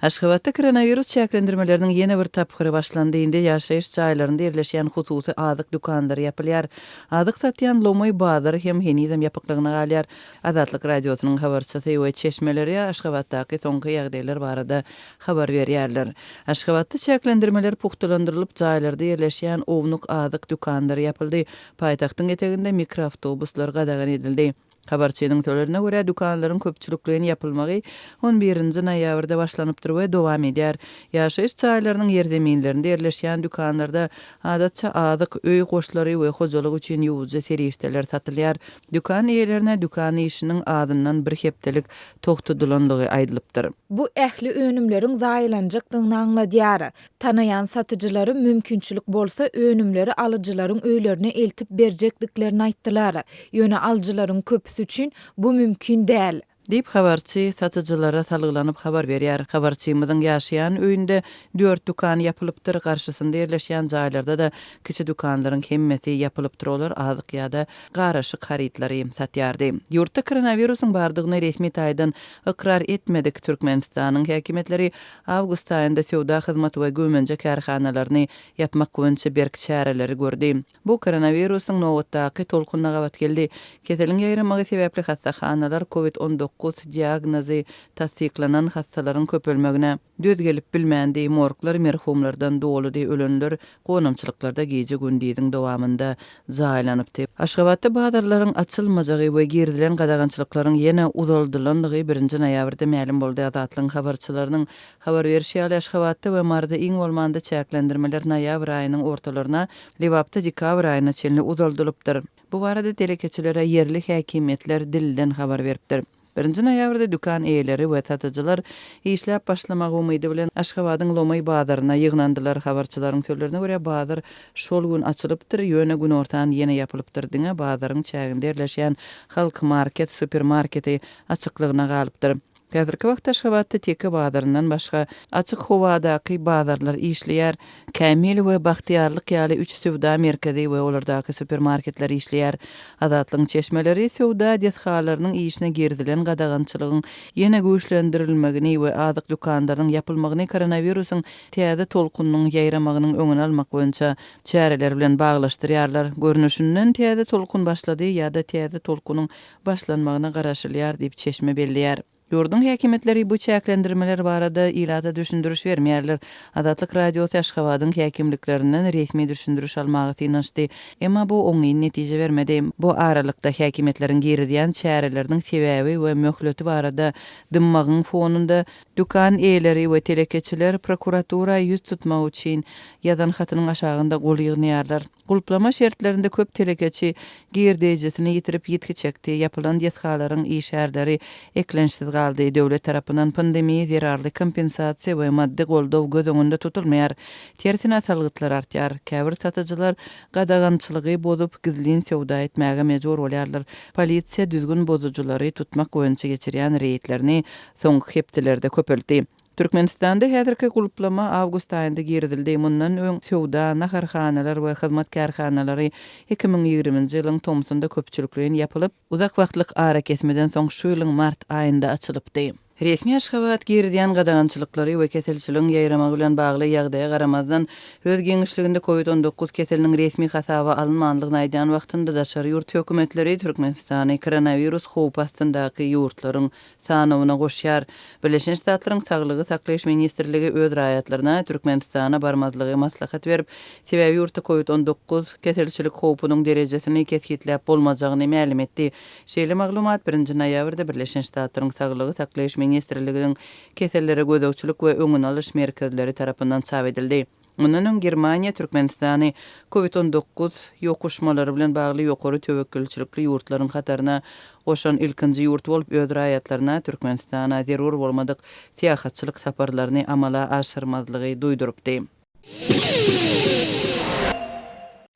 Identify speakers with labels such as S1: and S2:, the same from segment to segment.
S1: Aşgabatda koronawirus çäklendirmeleriniň ýene bir tapgyry başlandy. Indi ýaşaýyş jaýlarynda ýerleşýän hususy azyk dükanlary ýapylýar. Azyk satýan lomaý bazary hem henizem ýapyklygyna galýar. Azatlyk Radiosynyň habarçysy we çeşmeleri Aşgabatdaky soňky ýagdaýlar barada habar berýärler. Aşgabatda çäklendirmeler pugtalandyrylyp, jaýlarda ýerleşýän ownuk azyk dükanlary ýapyldy. Paýtagtyň eteginde mikroawtobuslar gadagan edildi. Habarçynyň sözlerine görä, dükanlaryň köpçülikleýin ýapylmagy on birinji noýabrda başlanypdyr we dowam edýär. Ýaşaýyş jaýlarynyň ýerzeminlerinde ýerleşýän dükanlarda, adatça, azyk, öý goşlary we hojalyk üçin ýuwujy serişdeler satylýar. Dükan eýelerine dükan işiniň azyndan bir hepdelik togtadylandygy aýdylypdyr. Bu ähli
S2: önümleriň zaýalanjakdygyny aňladýar. Tanaýan satyjylary mümkinçilik bolsa önümleri alyjylaryň öýlerine eltip berjekdiklerini aýtdylar. Ýöne alyjylaryň köpüsi üçin bu mümkin däl. Diýip, habarçy
S1: satyjylara salgylanyp habar berýär. Habarçymyzyň ýaşaýan öýünde dört dükan ýapylypdyr, garşysynda ýerleşýän jaýlarda-da kiçi dükanlaryň hemmesi ýapylypdyr, olar azyk ýa-da garyşyk harytlary satýardy. Ýurtda koronawirusyň bardygyny resmi taýdan ykrar etmedik Türkmenistanyň häkimiýetleri Awgust aýynda söwda, hyzmat we güwmenje kärhanalaryny ýapmak boýunça berk çäreleri gördi. Bu koronawirusyň nobatdaky tolkunyna gabat geldi. Keseliň ýaýramagy sebäpli hassahanalar covid on dokuz diagnozy tassyklanan hassalaryň köpelmegine. Döz gelip bilmändi. Morglar merhumlardan doludy, ölenler Gonamçylyklarda gije-gündiziň dowamynda jaýlanypdy. Aşgabatda bazarlaryň açylmajagy we girizilen gadagançylyklaryň ýene uzaldylandygy birinji noýabrda mälim boldy. Azatlygyň habarçylarynyň habar berşi ýaly, Aşgabatda we Maryda iň bolmanda çäklendirmeler noýabr aýynyň ortalaryna, Lebapda dekabr aýyna çenli uzaldylypdyr. Bu barada telekeçilere ýerli häkimiýetler dilden habar beripdir. Birinji noýabrda dükan eýeleri we satyjylar işläp başlamak umydy bilen Aşgabadyň lomaý bazaryna ýygnandylar. Habarçylaryň sözlerine görä, bazar şol gün açylypdyr, ýöne günortan ýene ýapylypdyr, diňe bazaryň çäginde ýerleşýän Halk Market supermarketi açyklygyna galypdyr. Häzirki wagtda Aşgabatda Teke bazaryndan başga, açyk howadaky bazarlar işleýär. Kämil we Bagtyýarlyk ýaly üç söwda merkezi we olardaky supermarketler işleýär. Azatlygyň çeşmeleri söwda desgalarynyň işine girizilen gadagançylygyň ýene güýçlendirilmegini we azyk dükanlarynyň ýapylmagyny koronawirusyň täze tolkunynyň ýaýramagynyň öňüni almak boýunça çäreler bilen baglaşdyrýarlar. Görnüşinden, täze tolkun başlady ýa-da täze tolkunyň başlanmagyna garaşylýar diýip, çeşme belleýär. Ýurduň häkimiýetleri bu çäklendirmeler barada ilata düşündiriş bermeýärler. Azatlyk Radiosy Aşgabadyň häkimliklerinden resmi düşündiriş almaga synanyşdy, emma bu oňyn netije bermedi. Bu aralykda, häkimiýetleriň girizýän çäreleriniň sebäbi we möhleti barada dymmagyň fonunda, dükan eýeleri we telekeçiler prokuratura ýüz tutmak üçin ýazan hatynyň aşagynda gol ýygnaýarlar. Gulplama şertlerinde köp telekeçi girdeýjisini ýitirip ýitgi çekdi, ýapylan desgalaryň işärleri eklençsiz galdy, döwlet tarapyndan pandemiýa zerarly kompensasiýa we maddy goldaw göz öňünde tutulmaýar, tersine salgytlar artýar, käbir satyjylar gadagançylygy bozup, gizlin söwda etmäge mejbur bolýarlar, polisiýa düzgün bozujylary tutmak boýunça geçirýän reýdlerini soňky hepdelerde köpeltdi. Türkmenistanda häzirki gulplama awgust aýynda girizildi, mundan öň söwda, naharhanalar we hyzmat kärhanalary iki müň ýigriminji ýylyň tomsunda köpçülikleýin ýapylyp, uzak wagtlyk arakesmeden soň şu ýylyň mart aýynda açylypdy. Resmi Aşgabat girizýän gadagançylyklary we keselçiligiň ýaýramagy bilen bagly ýagdaýa garamazdan, öz giňişliginde covid on dokuz keseliniň resmi hasaba alynmandygyny aýdýan wagtynda daşary ýurt hökümetleri Türkmenistany koronawirus howpy astyndaky ýurtlaryň sanawyna goşýar. Birleşen Ştatlaryň Saglygy saklaýyş ministrligi öz raýatlaryna Türkmenistana barmazlygy maslahat berip, sebäbi ýurtda Covid on dokuz keselçilik howpunyň derejesini kesgitläp bolmajagyny mälim etdi. Şeýle maglumat birinji noýabrda Birleşen Ştatlaryň Saglygy saklaýyş ministrligiiň Kesellere gözegçilik we öňüni alyş merkezleri tarapyndan çap edildi. Mundan öň Germaniýa Türkmenistany Covid on dokuz ýokuşmalary bilen bagly ýokary töwekgelçilikli ýurtlaryň hataryna goşan ilkinji ýurt bolup, öz raýatlaryna Türkmenistana zerur bolmadyk syýahatçylyk saparlaryny amala aşyrmazlygy duýdurypdy.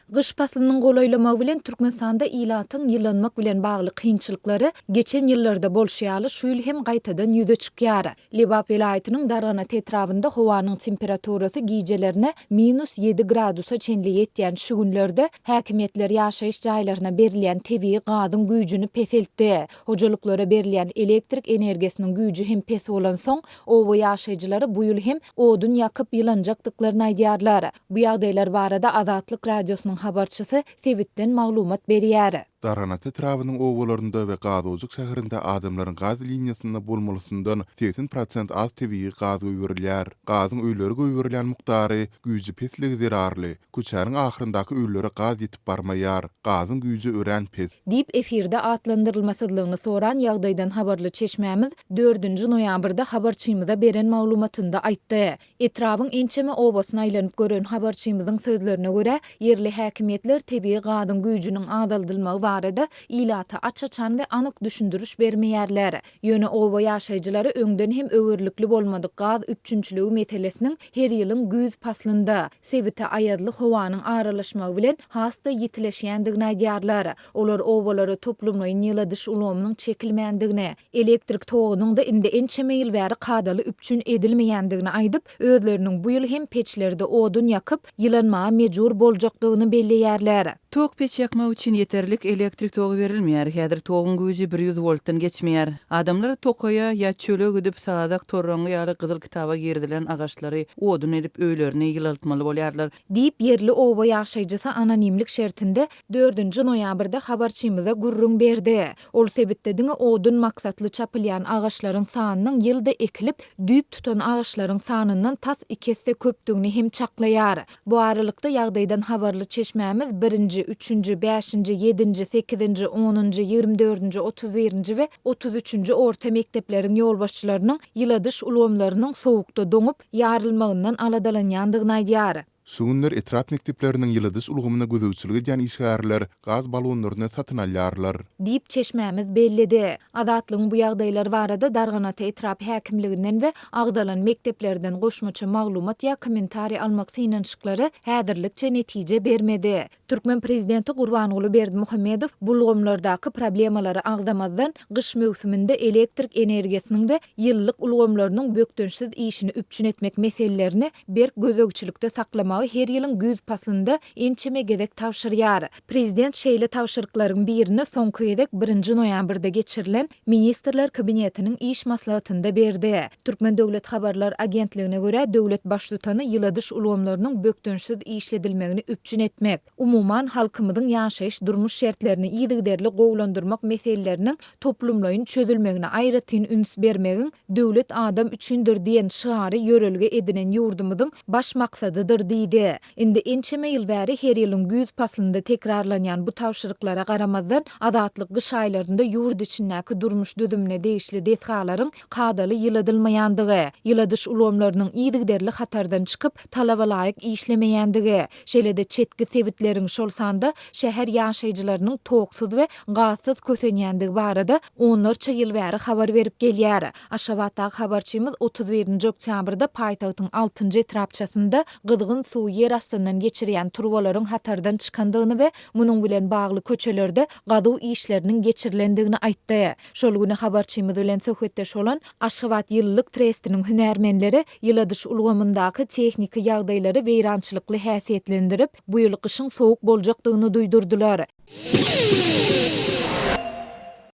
S2: Gyş paslynyň golaýlamagy bilen Türkmenistanda ilatyň ýylanmak bilen bagly kynçylyklary geçen ýyllarda bolşy ýaly şu ýyl hem gaýtadan ýüze çykýar. Lebap welaýatynyň Darganat etrabynda howanyň temperaturasy gijelerine minus ýedi gradusa çenli ýetýän şu günlerde häkimiýetler ýaşaýyş jaýlaryna berilýän tebigy gazyň güýjüni peseltdi. Hojalyklara berilýän elektrik energiýasynyň güýji hem pes bolansoň, Oba ýaşaýjylary bu ýyl hem odun ýakyp ýylanjakdyklaryny aýdýarlar. Bu ýagdaýlar barada Azatlyk Radiosynyň habarçysy sebitden maglumat berýär. Darganat etrabynyň
S3: obalarynda we Gazojyk şäherinde adamlaryň gaz liniýasynda bolmalysyndan segsen prosent az tebigy gaz goýberilýär. Gazyň öýlere goýberilýän mukdary güýji pesligi zerarly Köçäniň ahyryndaky öýlere gaz ýetip barmaýar. Gazyň güýji örän pes. Diýip, efirde
S2: atlandyrylmasyzlygyny soran ýagdaýdan habarly çeşmämiz dördünji noýabrda habarçymyza beren maglumatynda aýtdy. Etrabyň ençeme obasyny aýlanyp gören habarçymyzyň sözlerine görä, ýerli häkimiýetler tebigy gazyň güýjüniň azaldylmagy barada ilata aç-açan we anyk düşündiriş bermeýärler. Ýöne oba ýaşaýjylary öňden hem öwerlikli bolmadyk gaz üpjünçiligi meselesiniň her ýylyň güýz paslynda, sebite aýazly howanyň aralaşmagy bilen has-da ýitileşýändigini aýdýarlar. Olar obalara toplumlaýyn ýyladyş ulgamynyň çekilmändigini, elektrik togunyň-da indi ençeme ýyl bäri kadaly üpjün edilmeýändigini aýdyp, özleriniň bu ýyl hem peçlerde odun ýakyp, ýylanmaga mejbur boljakdygyny belleýärler. Tok peç ýakmak
S1: üçin ýeterlik elektrik togy berilmeýär. Häzir toguň güýji bir ýüz woltdan geçmeýär. Adamlar tokaýa ýa çöle gidip sazak, torraňňy ýaly gyzyl kitaba girizilen agaçlary odun edip öýlerini ýylaltmaly bolýarlar. Diýip, ýerli oba
S2: ýaşaýjysy anonimlik şertinde dördünji noýabrda habarçymyza gürrüň berdi. Ol sebitde diňe odun maksatly çapylýan agaçlaryň sanynyň ýylda ekilip, düýp tutan agaçlaryň sanyndan tas iki esse köpdügini hem çaklaýar. Bu aralykda, ýagdaýdan habarly çeşmämiz birinji, üçünji, bäşinji, ýedinji, sekizinji, onunjy, ýigrimi dördünji, otuz birinji we otuz üçünji orta mekdepleriň ýolbaşçylarynyň ýyladyş ulgamlarynyň sowukda doňup, ýarylmagyndan aladalanýandygyny aýdýar. Şu günler etrap
S3: mekdepleriniň ýyladyş ulgamyna gözegçilik edýän işgärler gaz balonlaryny satyn alýarlar. diýip, çeşmämiz
S2: belledi. Azatlygyň bu ýagdaýlar barada Darganata etrap häkimliginden we agzalan mekdeplerden goşmaça maglumat ýa kommentariý almak synanyşyklary häzirlikçe netije bermedi. Türkmen prezidenti Gurbanguly Berdimuhamedow bu ulgamlardaky problemalary agzamazdan, gyş möwsüminde elektrik energiýasynyň we ýylylyk ulgamlarynyň bökdençsiz işini üpjün etmek meselelerini berk gözegçilikde saklamagy her ýylyň güýz paslynda ençeme gezek tabşyrýar. Prezident şeýle tabşyryklaryň birini soňky gezek birinji noýabrda geçirilen Ministrler Kabinetiniň iş maslahatynda berdi. Türkmen döwlet habarlar agentligine görä, döwlet Baştutany ýyladyş ulgamlarynyň bökdençsiz işledilmegini üpjün etmek, umuman, halkymyzyň ýaşaýyş-durmuş şertlerini yzygiderli gowulandyrmak meseleleriniň toplumlaýyn çözülmegine aýratyn üns bermegiň Döwlet adam üçindir! diýen şygary ýörelge edinen ýurdumyzyň baş maksadydyr diýdi. Indi ençeme ýyl bäri her ýylyň güýz paslynda tekrarlanýan bu tabşyryklara garamazdan, Azatlyk gyş aýlarynda ýurt içindäki durmuş düzümine degişli desgalaryň kadaly ýyladylmaýandygy, ýyladyş ulgamlarynyň yzygiderli hatardan çykyp, talaba laýyk işlemeýändigi, şeýle-de çetki sebitleriň, şol sanda şäher ýaşaýjylarynyň toksuz we gazsyz kösenýändigi barada Onlarça ýyl bäri habar berip gelýär. Aşgabatdaky habarçymyz otuz birinji oktýabrda paýtagtyň altynjy etrapçasynda gyzgyn suwy ýer astyndan geçirýän turbalaryň hatardan çykandygyny we munuň bilen bagly köçelerde gazuw işleriniň geçirilendigini aýtdy. Şol güni habarçymyz bilen söhbetdeş bolan Aşgabat ýylylyk trestiniň hünärmenleri ýyladyş ulgamyndaky tehniki ýagdaýlary weýrançylykly häsiýetlendirip, Bu ýyl gyşyň sowuk boljakdygyny duýdurdylar.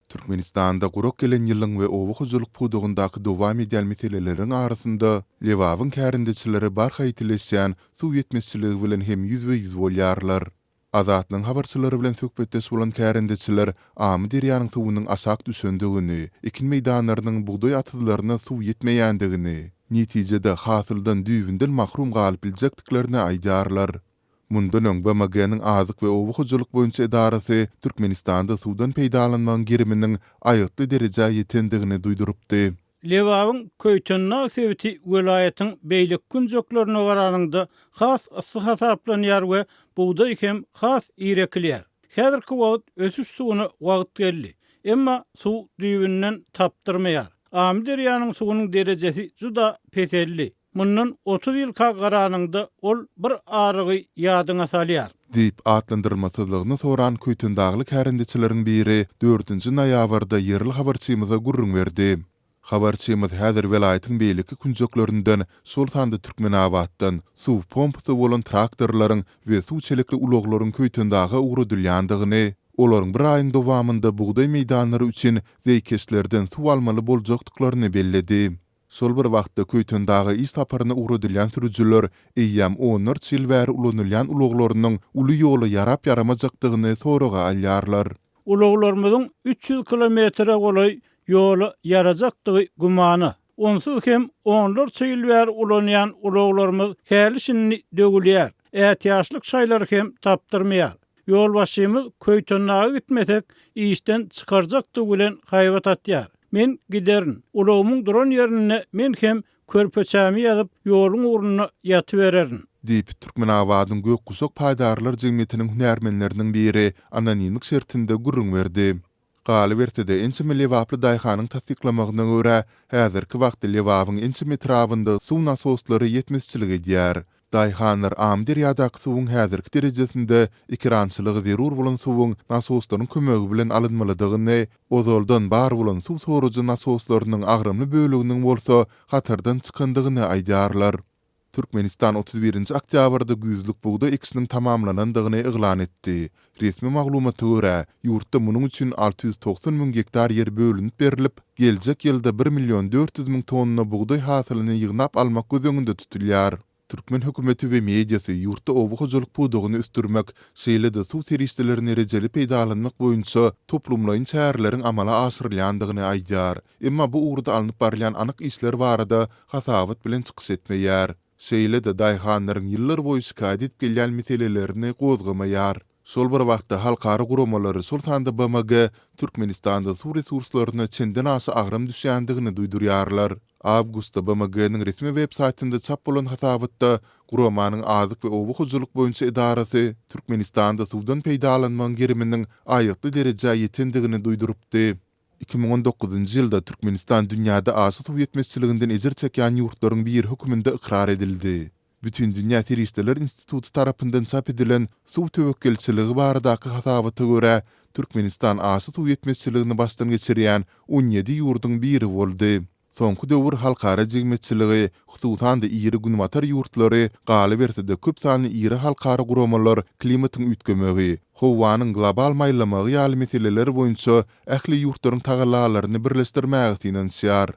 S3: Türkmenistanda gurak gelen ýylyň we oba hojalyk pudagyndaky dowam edýän meseleleriň arasynda Lebabyň kärendeçileri barha ýitileşýän suw ýetmezçiligi bilen hem ýüzbe-ýüz bolýarlar. Azatlygyň habarçylary bilen söhbetdeş bolan kärendeçiler Amyderýanyň suwunyň aşak düşendigini, ekin meýdanlarynyň bugdaý atyzlaryna suw ýetmeýändigini, netijede hasyldan düýbünden mahrum galyp biljekdiklerini aýdýarlar. Mundan öň BMG-niň Azyk we oba hojalyk boýunça edarasy Türkmenistanda suwdan peýdalanmagyň geriminiň aýgytly derejä ýetendigini duýdurypdy. Lebabyň
S4: Köýtendag sebiti welaýatyň beýleki künjeklerine garanyňda has yssy hasaplanýar we bugdaý hem has ir ekilýär. Häzirki wagt ösüş suwuna wagt geldi. Emma suw düýbünden tapdyrmaýar. Amyderýanyň suwunyň derejesi juda peseldi. Mundan otuz ýylka garanyňda ol bir arygy ýadyňa salýar. Diýip,
S3: atlandyrylmasyzlygyny soran köýtendagly kärendeçileriň biri dördünji noýabrda ýerli habarçymyza gürrüň berdi. Habarçymyz häzir welaýatyň beýleki künjeklerinden, şol sanda Türkmenabatdan, suw pompasy bolan traktorlaryň we suw çelikli ulaglaryň Köýtendaga ugradylýandygyny, olaryň bir aýyň dowamynda bugdaý meýdanlary üçin zeýkeşlerden suw almaly boljakdyklaryny belledi. Şol bir wagtda, Köýtendaga iş saparyna ugradylýan sürüjiler eýýäm onlarça ýyl bäri ulanylýan ulaglarynyň uly ýola ýarap-ýaramajakdygyny soraga alýarlar. Ulaglarymyzyň
S4: üç ýüz kilometre golaý ýola ýarajakdygy gümana. Onsuz hem onlarça ýyl bäri ulanýan ulaglarymyz häli-şindi döwülýär, ätiýaçlyk şaýlary hem tapdyrmaýar. Ýolbaşçymyz Köýtendaga gitmesek, işden çykarjakdygy bilen haýbat atýar. Men giderin. Ulagymyň duran ýerinde men hem körpeçämi ýazyp, ýoluň ugrunda ýatybererin. Diýip,
S3: Türkmenabadyň Gökguşak paýdarlar jemgyýetiniň hünärmenleriniň biri anonimlik şertinde gürrüň berdi. Galyberse-de, ençeme lebaply daýhanyň tassyklamagyna görä, häzirki wagtda Lebabyň ençeme etrabynda suw nasoslary ýetmezçilik edýär. Daýhanlar Amyderýadaky suwuň häzirki derejesinde ekerançylyga zerur bolan suwuň nasoslaryň kömegi bilen alynmalydygyny, ozaldan bar bolan suw sorujy nasoslarynyň agramly böleginiň bolsa hatardan çykandygyny aýdýarlar. Türkmenistan otuz birinji oktýabrda güýzlük bugdaý ekişiniň tamamlanandygyny yglan etdi. Resmi maglumata görä, ýurtda munuň üçin alty ýüz togsan müň gektar ýer bölünip berilip, geljek ýylda bir million dört ýüz müň tonna bugdaý hasylyny ýygnap almak göz öňünde tutulýar. Türkmen hökümeti we mediasy ýurtda oba hojalyk pudagyny ösdürmek, şeýle-de suw serişdelerini rejeli peýdalanmak boýunça toplumlaýyn çäreleriň amala aşyrylýandygyny aýdýar. Emma bu ugurda alnyp barylýan anyk işler barada hasabat bilen çykyş etmeýär. Şeýle-de daýhanlaryň ýyllar boýy şikaýat edip gelýän meselelerini gozgamaýar. Şol bir wagtda halkara guramalary, şol sanda BMG, Türkmenistanda suw resurslaryna çenden aşa agram düşýändigini duýdurýarlar. Awgustda BMG-niň resmi websaýtynda çap bolan hasabatda guramanyň Azyk we oba hojalyk boýunça edarasy Türkmenistanda suwdan peýdalanmagyň geriminiň aýgytly derejä ýetendigini duýdurypdy. Iki müň on dokuzynjy ýylda Türkmenistan dünýäde aşa suw ýetmezçiliginden ejir çekýän ýurtlaryň biri hökmünde ykrar edildi. Bütindünýä serişdeler instituty tarapyndan çap edilen Suw töwekgelçiligi baradaky hasabata görä, Türkmenistan aşa suw ýetmezçiligini başdan geçirýän on ýedi ýurduň biri boldy. Soňky döwür halkara jemgyýetçiligi, hususan-da iri Günbatar ýurtlary, galyberse-de köp sanly iri halkara guramalar klimatyň üýtgemegi, howanyň global maýlamagy ýaly meseleler boýunça ähli ýurtlaryň tagallalaryny birleşdirmäge synanyşýar.